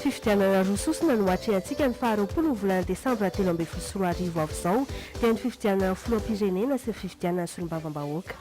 Fifidianana roa sosona no atrehantsika ny faha roapolo ny volana desambra telo ambin'ny folo sy roa arivo avy izao, dia ny fifidianana filoham-pirenena sy ny fifidianana solombavambahoaka.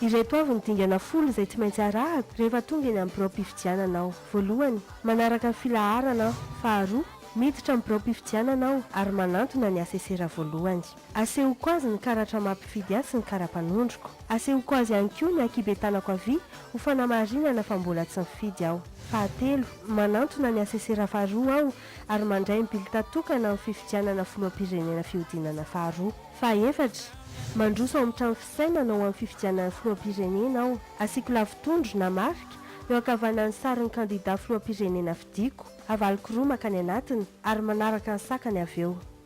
Ireto avy ny dingana folo izay tsy maintsy arahako rehefa tonga eny amin'ny biraom-pifidianana aho, voalohany, manaraka ny filaharana aho, faharoa, miditra amin'ny biraom-pifidianana aho ary manantona ny asesera voalohany. Asehoko azy ny karatra mampifidy ahy sy ny kara-panondroko. Asehoko azy ihany koa ny ankiben-tanako havia ho fanamarinana fa mbola tsy nifidy aho. Fahatelo, manantona ny asesera faharoa aho ary mandray ny bilita tokana amin'ny fifidianana filoham-pirenena fihodinana faharoa. Fahefatra, mandroso ao amin'ny trano fisainana ho amin'ny fifidianana filoham-pirenena aho. Asiako lavitondro na marika eo ankavanan'ny sarin'ny kandida filoham-pirenena fidiako, avaliko roa mankany anatiny ary manaraka ny sakany avy eo.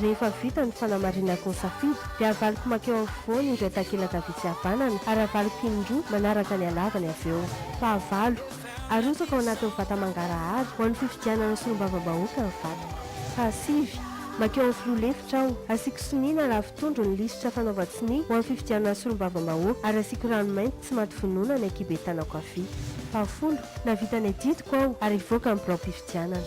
Rehefa vita ny fanamarinako ny safidy, dia avaliko mankeo afovoany indray takelaka vitsy havanana, ary avaliko indroa manaraka ny halavany avy eo. Fahavalo, Arotsaka ao anatin'ny vata mangarahara ho an'ny fifidianana solombavambahoaka ny vatoko. Fahasivy, Mankeo amin'ny filoha lefitra aho, asiako sonia na ravin-tondro ny lisitra fanaovan-tsonia ho an'ny fifidianana solombavambahoaka, ary asiako rano mainty tsy maty vonona ny ankihibe tanako havia. Fahafolo, Nahavita ny adidiko aho, ary hivoaka ny biraom-pifidianana.